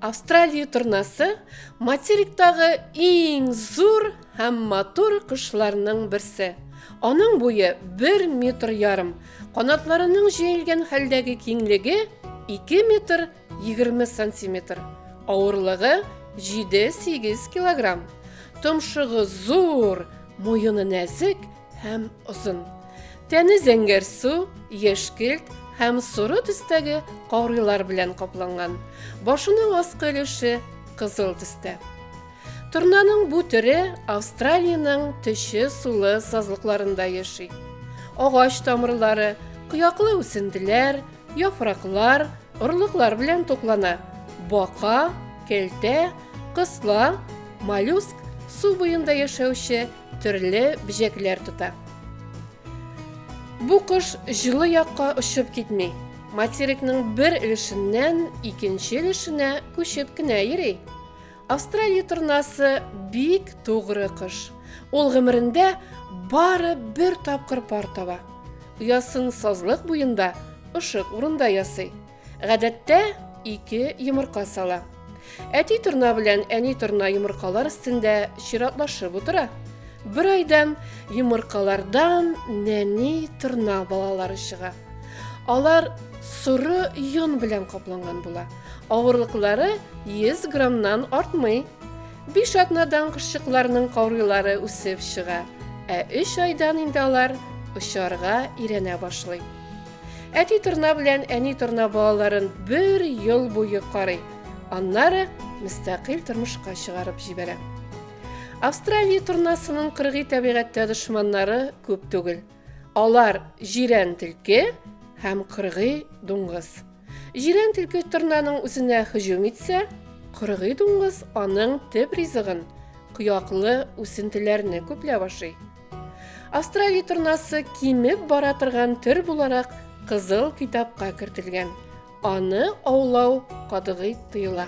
Австралия торнасы материктагы иң зур һәм матур кошларның берсе. Аның буе 1 метр ярым, канатларының җәелгән хәлдәге киңлеге 2 метр 20 сантиметр, авырлыгы 7-8 килограмм. Томшыгы зур, муены нәзек һәм озын. Тәне зәңгәр су, яшькелт һәм соры төстәге карыйлар белән капланган. Башының аскы өлеше кызыл төстә. Торнаның бу төре Австралиянең төче сулы сазлыкларында яши. Агач тамырлары, кыяклы үсентеләр, Яфраклар, орлыклар белән туклана. Бака, кәлтә, кысла, моллюск, су буенда яшәүче төрле бөҗәкләр тота. Бу кош җылы якка очып китми. Материкның бер өлешеннән икенче өлешенә күчеп кенә йөри. Австралия торнасы бик тугры кош. Ул гомерендә бары бер тапкыр пар таба. Оясын сазлык буенда, ышык урында ясый. Гадәттә ике йомырка сала. Әти торна белән әни торна йомыркалар өстендә чиратлашып утыра. Бер айдан йомыркалардан нәни торна балалары чыга. Алар соры йон белән капланган була. Авырлыклары 100 граммнан артмый. Биш атнадан кошчыкларның каурыйлары үсеп чыга, ә өч айдан инде алар очарга иренә башлый. Әти торна белән әни торна балаларын бер ел буе карый, аннары мөстәкыйль тормышка чыгарып җибәрә. Австралия торнасының кыргый табигатьтә дошманнары күп түгел. Алар җирән тилке һәм кыргый дуңгыз. Җирән тилке торнаның үзенә һөҗүм итсә, кыргый дуңгыз аның төп ризыгын кыяклы үсентеләрне күпләп ашый. Австралия торнасы кимеп бара торган төр буларак кызыл китапка кертелгән. Аны аулау катгый тыела.